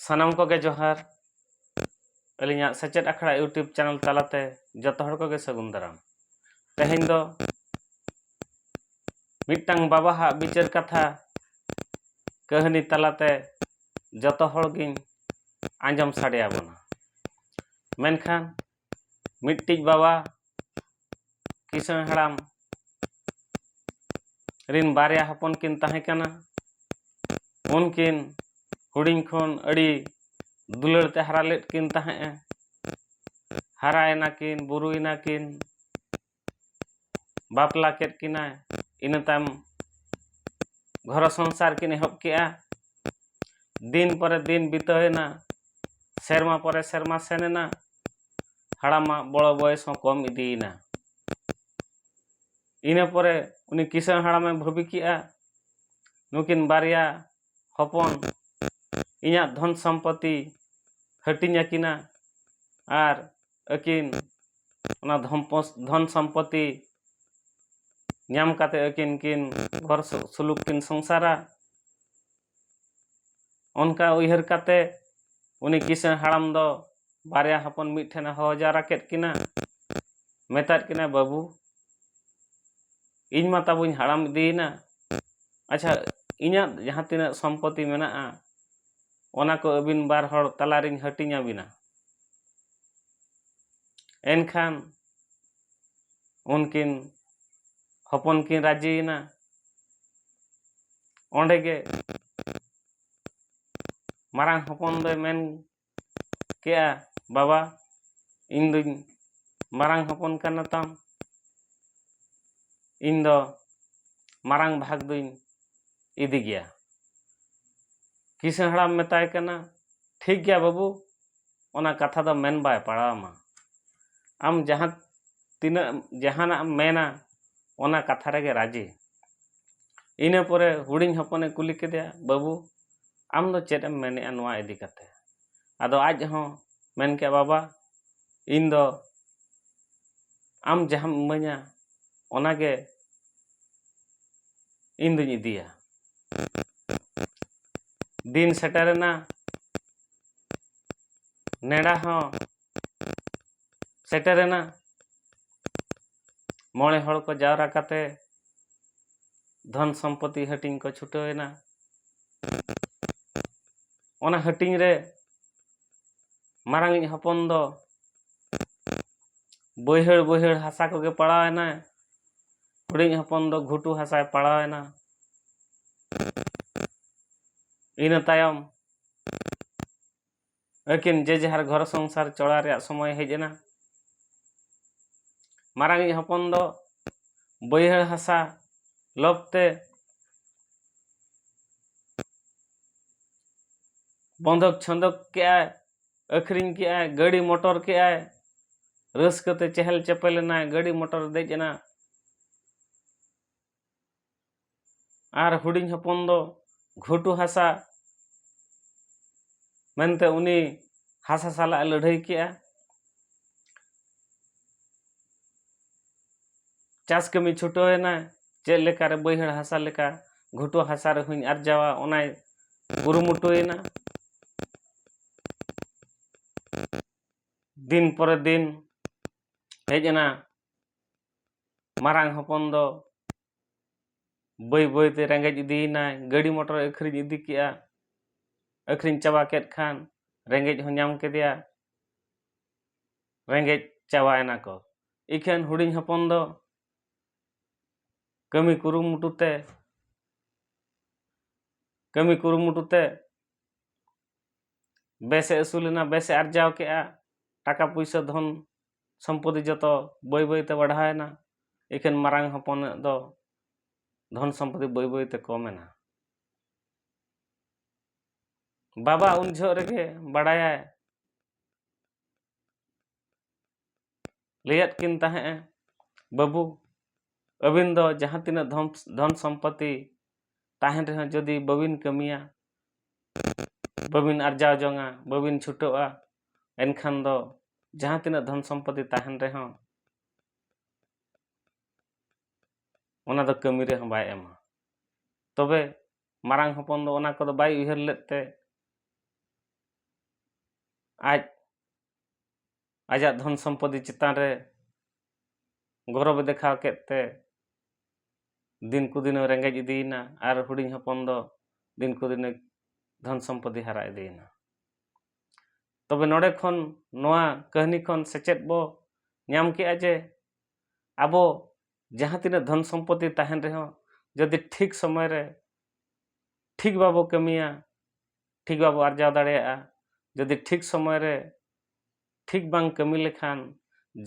ᱥᱟᱱᱟᱢ ᱠᱚᱜᱮ ᱡᱚᱦᱟᱨ ᱟᱹᱞᱤᱧᱟᱜ ᱥᱮᱪᱮᱫ ᱟᱠᱷᱲᱟ ᱤᱭᱩᱴᱩᱵᱽ ᱪᱮᱱᱮᱞ ᱛᱟᱞᱟᱛᱮ ᱡᱚᱛᱚ ᱦᱚᱲ ᱠᱚᱜᱮ ᱥᱟᱹᱜᱩᱱ ᱫᱟᱨᱟᱢ ᱛᱮᱦᱮᱧ ᱫᱚ ᱢᱤᱫᱴᱟᱝ ᱵᱟᱵᱟᱦᱟᱜ ᱵᱤᱪᱟᱹᱨ ᱠᱟᱛᱷᱟ ᱠᱟᱹᱦᱱᱤ ᱛᱟᱞᱟᱛᱮ ᱡᱚᱛᱚ ᱦᱚᱲ ᱜᱤᱧ ᱟᱸᱡᱚᱢ ᱥᱟᱰᱮ ᱟᱵᱚᱱᱟ ᱢᱮᱱᱠᱷᱟᱱ ᱢᱤᱫᱴᱤᱡ ᱵᱟᱵᱟ ᱠᱤᱥᱟᱹᱬ ᱦᱟᱲᱟᱢ ᱨᱤᱱ ᱵᱟᱨᱭᱟ ᱦᱚᱯᱚᱱ ᱠᱤᱱ ᱛᱟᱦᱮᱸ ᱠᱟᱱᱟ ᱩᱱᱠᱤᱱ ᱦᱩᱰᱤᱧ ᱠᱷᱚᱱ ᱟᱹᱰᱤ ᱫᱩᱞᱟᱹᱲ ᱛᱮ ᱦᱟᱨᱟ ᱞᱮᱫ ᱠᱤᱱ ᱛᱟᱦᱮᱸᱫᱼᱮ ᱦᱟᱨᱟᱭᱮᱱᱟ ᱠᱤᱱ ᱵᱩᱨᱩᱭᱮᱱᱟ ᱠᱤᱱ ᱵᱟᱯᱞᱟ ᱠᱮᱫ ᱠᱤᱱᱟᱹ ᱤᱱᱟᱹ ᱛᱟᱭᱚᱢ ᱜᱷᱟᱨᱚᱸᱡᱽ ᱥᱚᱝᱥᱟᱨ ᱠᱤᱱ ᱮᱦᱚᱵ ᱠᱮᱫᱼᱟ ᱫᱤᱱ ᱯᱚᱨᱮ ᱫᱤᱱ ᱵᱤᱛᱟᱹᱣᱮᱱᱟ ᱥᱮᱨᱢᱟ ᱯᱚᱨᱮ ᱥᱮᱨᱢᱟ ᱥᱮᱱ ᱮᱱᱟ ᱦᱟᱲᱟᱢᱟᱜ ᱵᱚᱲᱚ ᱵᱚᱭᱮᱥ ᱦᱚᱸ ᱠᱚᱢ ᱤᱫᱤᱭᱮᱱᱟ ᱤᱱᱟᱹ ᱯᱚᱨᱮ ᱩᱱᱤ ᱠᱤᱥᱟᱹᱬ ᱦᱟᱲᱟᱢᱮ ᱵᱷᱟᱹᱵᱤ ᱠᱮᱫᱼᱟ ᱱᱩᱠᱤᱱ ᱵᱟᱨᱭᱟ ᱦᱚᱯᱚᱱ ᱤᱧᱟᱹᱜ ᱫᱷᱚᱱ ᱥᱚᱢᱯᱚᱛᱤ ᱦᱟᱹᱴᱤᱧ ᱟᱹᱠᱤᱱᱟ ᱟᱨ ᱟᱹᱠᱤᱱ ᱚᱱᱟ ᱫᱷᱚᱢᱯᱚᱥ ᱫᱷᱚᱱ ᱥᱚᱢᱯᱚᱛᱤ ᱧᱟᱢ ᱠᱟᱛᱮᱫ ᱟᱹᱠᱤᱱ ᱠᱤᱱ ᱜᱷᱚᱨ ᱥᱩᱞᱩᱠ ᱠᱤᱱ ᱥᱚᱝᱥᱟᱨᱟ ᱚᱱᱠᱟ ᱩᱭᱦᱟᱹᱨ ᱠᱟᱛᱮᱫ ᱩᱱᱤ ᱠᱤᱥᱟᱹᱬ ᱦᱟᱲᱟᱢ ᱫᱚ ᱵᱟᱨᱭᱟ ᱦᱚᱯᱚᱱ ᱢᱤᱫ ᱴᱷᱮᱱᱮ ᱦᱚᱦᱚ ᱡᱟᱣᱨᱟ ᱠᱮᱫ ᱠᱤᱱᱟ ᱢᱮᱛᱟᱫ ᱠᱤᱱᱟ ᱵᱟᱹᱵᱩ ᱤᱧ ᱢᱟ ᱛᱟᱵᱚᱧ ᱦᱟᱲᱟᱢ ᱤᱫᱤᱭᱮᱱᱟ ᱟᱪᱪᱷᱟ ᱤᱧᱟᱹᱜ ᱡᱟᱦᱟᱸ ᱛᱤᱱᱟᱹᱜ ᱥᱚᱢᱯᱚᱛᱤ ᱢᱮᱱᱟᱜᱼᱟ ᱚᱱᱟ ᱠᱚ ᱟᱹᱵᱤᱱ ᱵᱟᱨ ᱦᱚᱲ ᱛᱟᱞᱟ ᱨᱤᱧ ᱦᱟᱹᱴᱤᱧ ᱟᱹᱵᱤᱱᱟ ᱮᱱᱠᱷᱟᱱ ᱩᱱᱠᱤᱱ ᱦᱚᱯᱚᱱ ᱠᱤᱱ ᱨᱟᱡᱤᱭᱮᱱᱟ ᱚᱸᱰᱮ ᱜᱮ ᱢᱟᱨᱟᱝ ᱦᱚᱯᱚᱱ ᱫᱚᱭ ᱢᱮᱱ ᱠᱮᱜᱼᱟ ᱵᱟᱵᱟ ᱤᱧ ᱫᱩᱧ ᱢᱟᱨᱟᱝ ᱦᱚᱯᱚᱱ ᱠᱟᱱᱟ ᱛᱟᱢ ᱤᱧ ᱫᱚ ᱢᱟᱨᱟᱝ ᱵᱷᱟᱜᱽ ᱫᱩᱧ ᱤᱫᱤ ᱜᱮᱭᱟ ᱠᱤᱥᱟᱹᱬ ᱦᱟᱲᱟᱢ ᱢᱮᱛᱟᱭ ᱠᱟᱱᱟ ᱴᱷᱤᱠ ᱜᱮᱭᱟ ᱵᱟᱹᱵᱩ ᱚᱱᱟ ᱠᱟᱛᱷᱟ ᱫᱚ ᱢᱮᱱ ᱵᱟᱭ ᱯᱟᱲᱟᱣ ᱟᱢᱟ ᱟᱢ ᱡᱟᱦᱟᱸ ᱛᱤᱱᱟᱹᱜ ᱡᱟᱦᱟᱱᱟᱜ ᱮᱢ ᱢᱮᱱᱟ ᱚᱱᱟ ᱠᱟᱛᱷᱟ ᱨᱮᱜᱮ ᱨᱟᱹᱡᱤ ᱤᱱᱟᱹ ᱯᱚᱨᱮ ᱦᱩᱰᱤᱧ ᱦᱚᱯᱚᱱᱮ ᱠᱩᱞᱤ ᱠᱮᱫᱮᱭᱟ ᱵᱟᱹᱵᱩ ᱟᱢ ᱫᱚ ᱪᱮᱫ ᱮᱢ ᱢᱮᱱᱮᱫᱼᱟ ᱱᱚᱣᱟ ᱤᱫᱤ ᱠᱟᱛᱮᱫ ᱟᱫᱚ ᱟᱡ ᱦᱚᱸ ᱢᱮᱱ ᱠᱮᱫᱟᱭ ᱵᱟᱵᱟ ᱤᱧ ᱫᱚ ᱟᱢ ᱡᱟᱦᱟᱸᱢ ᱤᱢᱟᱹᱧᱟ ᱚᱱᱟ ᱜᱮ ᱤᱧ ᱫᱩᱧ ᱤᱫᱤᱭᱟ ᱫᱤᱱ ᱥᱮᱴᱮᱨᱮᱱᱟ ᱱᱮᱰᱟ ᱦᱚᱸ ᱥᱮᱴᱮᱨᱮᱱᱟ ᱢᱚᱬᱮ ᱦᱚᱲ ᱠᱚ ᱡᱟᱣᱨᱟ ᱠᱟᱛᱮ ᱫᱷᱚᱱ ᱥᱚᱢᱯᱚᱛᱤ ᱦᱟᱹᱴᱤᱧ ᱠᱚ ᱪᱷᱩᱴᱟᱹᱣ ᱮᱱᱟ ᱚᱱᱟ ᱦᱟᱹᱴᱤᱧ ᱨᱮ ᱢᱟᱨᱟᱝᱤᱡ ᱦᱚᱯᱚᱱ ᱫᱚ ᱵᱟᱹᱭᱦᱟᱹᱲ ᱵᱟᱹᱭᱦᱟᱹᱲ ᱦᱟᱥᱟ ᱠᱚᱜᱮ ᱯᱟᱲᱟᱣ ᱮᱱᱟᱭ ᱦᱩᱰᱤᱧ ᱦᱚᱯᱚᱱ ᱫᱚ ᱜᱷᱩᱴᱩ ᱦᱟᱥᱟᱭ ᱯᱟᱲᱟᱣ ᱮᱱᱟ ᱤᱱᱟᱹ ᱛᱟᱭᱚᱢ ᱟᱹᱠᱤᱱ ᱡᱮ ᱡᱟᱦᱟᱨ ᱜᱷᱚᱨ ᱥᱚᱝᱥᱟᱨ ᱪᱚᱲᱟ ᱨᱮᱭᱟᱜ ᱥᱚᱢᱚᱭ ᱦᱮᱡ ᱮᱱᱟ ᱢᱟᱨᱟᱝᱤᱡ ᱦᱚᱯᱚᱱ ᱫᱚ ᱵᱟᱹᱭᱦᱟᱹᱲ ᱦᱟᱥᱟ ᱞᱚᱵᱽ ᱛᱮ ᱵᱚᱱᱫᱷᱚᱠ ᱪᱷᱚᱸᱫᱚᱠ ᱠᱮᱜᱼᱟᱭ ᱟᱹᱠᱷᱨᱤᱧ ᱠᱮᱜᱼᱟᱭ ᱜᱟᱹᱰᱤ ᱢᱚᱴᱚᱨ ᱠᱮᱜᱼᱟᱭ ᱨᱟᱹᱥᱠᱟᱹᱛᱮ ᱪᱮᱦᱮᱞ ᱪᱮᱯᱮᱞ ᱮᱱᱟᱭ ᱜᱟᱹᱰᱤ ᱢᱚᱴᱚᱨ ᱫᱮᱡ ᱮᱱᱟ ᱟᱨ ᱦᱩᱰᱤᱧ ᱦᱚᱯᱚᱱ ᱫᱚ ᱜᱷᱩᱴᱩ ᱦᱟᱥᱟ ᱢᱮᱱᱛᱮ ᱩᱱᱤ ᱦᱟᱥᱟ ᱥᱟᱞᱟᱜ ᱮ ᱞᱟᱹᱰᱷᱟᱹᱭ ᱠᱮᱜᱼᱟ ᱪᱟᱥ ᱠᱟᱹᱢᱤ ᱪᱷᱩᱴᱟᱹᱣ ᱮᱱᱟ ᱪᱮᱫ ᱞᱮᱠᱟᱨᱮ ᱵᱟᱹᱭᱦᱟᱹᱲ ᱦᱟᱥᱟ ᱞᱮᱠᱟ ᱜᱷᱩᱴᱩ ᱦᱟᱥᱟ ᱨᱮᱦᱚᱸᱧ ᱟᱨᱡᱟᱣᱟ ᱚᱱᱟᱭ ᱠᱩᱨᱩᱢᱩᱴᱩᱭᱮᱱᱟ ᱫᱤᱱ ᱯᱚᱨᱮ ᱫᱤᱱ ᱦᱮᱡ ᱮᱱᱟ ᱢᱟᱨᱟᱝ ᱦᱚᱯᱚᱱ ᱫᱚ ᱵᱟᱹᱭ ᱵᱟᱹᱭ ᱛᱮ ᱨᱮᱸᱜᱮᱡ ᱤᱫᱤᱭᱮᱱᱟᱭ ᱜᱟᱹᱰᱤ ᱢᱚᱴᱚᱨ ᱮ ᱟᱹᱠᱷᱨᱤᱧ ᱤᱫᱤ ᱠᱮᱫᱼᱟ ᱟᱹᱠᱷᱨᱤᱧ ᱪᱟᱵᱟ ᱠᱮᱫ ᱠᱷᱟᱱ ᱨᱮᱸᱜᱮᱡ ᱦᱚᱸ ᱧᱟᱢ ᱠᱮᱫᱮᱭᱟ ᱨᱮᱸᱜᱮᱡ ᱪᱟᱵᱟᱭᱮᱱᱟ ᱠᱚ ᱤᱠᱷᱟᱹᱱ ᱦᱩᱰᱤᱧ ᱦᱚᱯᱚᱱ ᱫᱚ ᱠᱟᱹᱢᱤ ᱠᱩᱨᱩᱢᱩᱴᱩ ᱛᱮ ᱠᱟᱹᱢᱤ ᱠᱩᱨᱩᱢᱩᱴᱩ ᱛᱮ ᱵᱮᱥᱮ ᱟᱹᱥᱩᱞᱮᱱᱟ ᱵᱮᱥᱮ ᱟᱨᱡᱟᱣ ᱠᱮᱫᱼᱟ ᱴᱟᱠᱟ ᱯᱩᱭᱥᱟᱹ ᱫᱷᱚᱱ ᱥᱚᱢᱯᱚᱛᱛᱤ ᱡᱚᱛᱚ ᱵᱟᱹᱭ ᱵᱟᱹᱭᱛᱮ ᱵᱟᱲᱦᱟᱣᱮᱱᱟ ᱮᱠᱮᱱ ᱢᱟᱨᱟᱝ ᱦᱚᱯᱚᱱᱟᱜ ᱫᱚ ᱫᱷᱚᱱ ᱥᱚᱢᱯᱚᱛᱛᱤ ᱵᱟᱹᱭ ᱵᱟᱹᱭᱛᱮ ᱠᱚᱢᱮᱱᱟ ᱵᱟᱵᱟ ᱩᱱ ᱡᱚᱦᱚᱜ ᱨᱮᱜᱮ ᱵᱟᱲᱟᱭᱟᱭ ᱞᱟᱹᱭᱟᱫ ᱠᱤᱱ ᱛᱟᱦᱮᱸᱫᱼᱮ ᱵᱟᱹᱵᱩ ᱟᱹᱵᱤᱱ ᱫᱚ ᱡᱟᱦᱟᱸ ᱛᱤᱱᱟᱹᱜ ᱫᱷᱚᱱ ᱥᱚᱢᱯᱚᱛᱛᱤ ᱛᱟᱦᱮᱱ ᱨᱮᱦᱚᱸ ᱡᱩᱫᱤ ᱵᱟᱹᱵᱤᱱ ᱠᱟᱹᱢᱤᱭᱟ ᱵᱟᱹᱵᱤᱱ ᱟᱨᱡᱟᱣ ᱡᱚᱝᱟ ᱵᱟᱹᱵᱤᱱ ᱪᱷᱩᱴᱟᱹᱜᱼᱟ ᱮᱱᱠᱷᱟᱱ ᱫᱚ ᱡᱟᱦᱟᱸ ᱛᱤᱱᱟᱹᱜ ᱫᱷᱚᱱ ᱥᱚᱢᱯᱚᱛᱤ ᱛᱟᱦᱮᱱ ᱨᱮᱦᱚᱸ ᱚᱱᱟ ᱫᱚ ᱠᱟᱹᱢᱤ ᱨᱮᱦᱚᱸ ᱵᱟᱭ ᱮᱢᱟ ᱛᱚᱵᱮ ᱢᱟᱨᱟᱝ ᱦᱚᱯᱚᱱ ᱫᱚ ᱚᱱᱟ ᱠᱚᱫᱚ ᱵᱟᱭ ᱩᱭᱦᱟᱹᱨ ᱞᱮᱫ ᱛᱮ ᱟᱡ ᱟᱡᱟᱜ ᱫᱷᱚᱱ ᱥᱚᱢᱯᱚᱛᱤ ᱪᱮᱛᱟᱱ ᱨᱮ ᱜᱚᱨᱚᱵᱮ ᱫᱮᱠᱷᱟᱣ ᱠᱮᱫ ᱛᱮ ᱫᱤᱱ ᱠᱚ ᱫᱤᱱᱮ ᱨᱮᱸᱜᱮᱡ ᱤᱫᱤᱭᱮᱱᱟ ᱟᱨ ᱦᱩᱰᱤᱧ ᱦᱚᱯᱚᱱ ᱫᱚ ᱫᱤᱱ ᱠᱚ ᱫᱤᱱᱮ ᱫᱷᱚᱱ ᱥᱚᱢᱯᱚᱛᱤ ᱦᱟᱨᱟ ᱤᱫᱤᱭᱮᱱᱟ ᱛᱚᱵᱮ ᱱᱚᱰᱮ ᱠᱷᱚᱱ ᱱᱚᱣᱟ ᱠᱟᱹᱦᱱᱤ ᱠᱷᱚᱱ ᱥᱮᱪᱮᱫ ᱵᱚ ᱧᱟᱢ ᱠᱮᱜᱼᱟ ᱡᱮ ᱟᱵᱚ ᱡᱟᱦᱟᱸ ᱛᱤᱱᱟᱹᱜ ᱫᱷᱚᱱ ᱥᱚᱢᱯᱚᱛᱤ ᱛᱟᱦᱮᱱ ᱨᱮᱦᱚᱸ ᱡᱩᱫᱤ ᱴᱷᱤᱠ ᱥᱚᱢᱚᱭ ᱨᱮ ᱴᱷᱤᱠ ᱵᱟᱵᱚ ᱠᱟᱹᱢᱤᱭᱟ ᱴᱷᱤᱠ ᱵᱟᱵᱚ ᱟᱨᱡᱟᱣ ᱫᱟᱲᱮᱭᱟᱜᱼᱟ ᱡᱩᱫᱤ ᱴᱷᱤᱠ ᱥᱚᱢᱚᱭ ᱨᱮ ᱴᱷᱤᱠ ᱵᱟᱝ ᱠᱟᱹᱢᱤ ᱞᱮᱠᱷᱟᱱ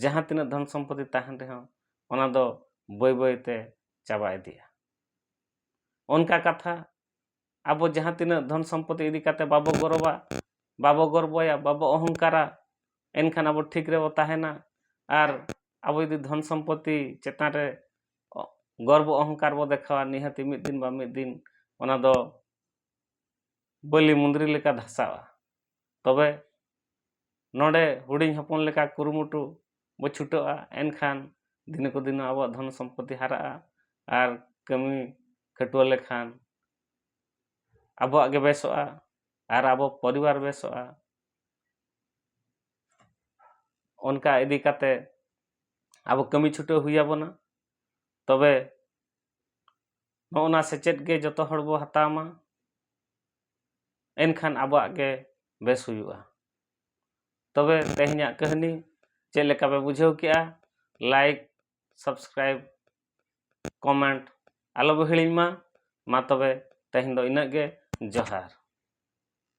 ᱡᱟᱦᱟᱸ ᱛᱤᱱᱟᱹᱜ ᱫᱷᱚᱱ ᱥᱚᱢᱯᱚᱛᱤ ᱛᱟᱦᱮᱱ ᱨᱮᱦᱚᱸ ᱚᱱᱟ ᱫᱚ ᱵᱟᱹᱭ ᱵᱟᱹᱭ ᱛᱮ ᱪᱟᱵᱟ ᱤᱫᱤᱜᱼᱟ ᱚᱱᱠᱟ ᱠᱟᱛᱷᱟ ᱟᱵᱚ ᱡᱟᱦᱟᱸ ᱛᱤᱱᱟᱹᱜ ᱫᱷᱚᱱ ᱥᱚᱢᱯᱚᱛᱤ ᱤᱫᱤ ᱠᱟᱛᱮ ᱵᱟᱵᱚ ᱜᱚᱨᱚᱵᱟ ᱵᱟᱵᱚ ᱜᱚᱨᱵᱚᱭᱟ ᱵᱟᱵᱚ ᱚᱦᱚᱝᱠᱟᱨᱟ ᱮᱱᱠᱷᱟᱱ ᱟᱵᱚ ᱴᱷᱤᱠ ᱨᱮᱵᱚ ᱛᱟᱦᱮᱱᱟ ᱟᱨ ᱟᱵᱚ ᱡᱩᱫᱤ ᱫᱷᱚᱱ ᱥᱚᱢᱯᱚᱛᱤ ᱪᱮᱛᱟᱱ ᱨᱮ ᱜᱚᱨᱵᱚ ᱚᱦᱚᱝᱠᱟᱨ ᱵᱚ ᱫᱮᱠᱷᱟᱣᱟ ᱱᱤᱦᱟᱹᱛ ᱢᱤᱫ ᱫᱤᱱ ᱵᱟᱝ ᱢᱤᱫ ᱫᱤᱱ ᱚᱱᱟ ᱫᱚ ᱵᱟᱹᱞᱤ ᱢᱩᱸᱫᱽᱨᱤ ᱞᱮᱠᱟ ᱫᱷᱟᱥᱟᱣᱟ ᱛᱚᱵᱮ ᱱᱚᱰᱮ ᱦᱩᱰᱤᱧ ᱦᱚᱯᱚᱱ ᱞᱮᱠᱟ ᱠᱩᱨᱩᱢᱩᱴᱩ ᱵᱚ ᱪᱷᱩᱴᱟᱹᱜᱼᱟ ᱮᱱᱠᱷᱟᱱ ᱫᱤᱱᱮ ᱠᱚ ᱫᱤᱱ ᱟᱵᱚᱣᱟᱜ ᱫᱷᱚᱱ ᱥᱚᱢᱯᱚᱛᱤ ᱦᱟᱨᱟᱜᱼᱟ ᱟᱨ ᱠᱟᱹᱢᱤ ᱠᱷᱟᱹᱴᱣᱟᱹ ᱞᱮᱠᱷᱟᱱ ᱟᱵᱚᱣᱟᱜ ᱜᱮ ᱵᱮᱥᱚᱜᱼᱟ ᱟᱨ ᱟᱵᱚ ᱯᱚᱨᱤᱵᱟᱨ ᱵᱮᱥᱚᱜᱼᱟ ᱚᱱᱠᱟ ᱤᱫᱤ ᱠᱟᱛᱮ ᱟᱵᱚ ᱠᱟᱹᱢᱤ ᱪᱷᱩᱴᱟᱹᱣ ᱦᱩᱭ ᱟᱵᱚᱱᱟ ᱛᱚᱵᱮ ᱱᱚᱜᱼᱚ ᱱᱟ ᱥᱮᱪᱮᱫ ᱜᱮ ᱡᱚᱛᱚ ᱦᱚᱲ ᱵᱚ ᱦᱟᱛᱟᱣ ᱢᱟ ᱮᱱᱠᱷᱟᱱ ᱟᱵᱚᱣᱟᱜ ᱜᱮ ᱵᱮᱥ ᱦᱩᱭᱩᱜᱼᱟ ᱛᱚᱵᱮ ᱛᱮᱦᱮᱧᱟᱜ ᱠᱟᱹᱦᱱᱤ ᱪᱮᱫ ᱞᱮᱠᱟ ᱯᱮ ᱵᱩᱡᱷᱟᱹᱣ ᱠᱮᱜᱼᱟ ᱞᱟᱭᱤᱠ ᱥᱟᱵᱥᱠᱨᱟᱭᱤᱵ ᱠᱚᱢᱮᱱᱴ ᱟᱞᱚ ᱵᱚ ᱦᱤᱲᱤᱧ ᱢᱟ ᱢᱟ ᱛᱚᱵᱮ ᱛᱮᱦᱮᱧ ᱫᱚ ᱤᱱᱟᱹᱜ ᱜᱮ ᱡᱚᱦᱟᱨ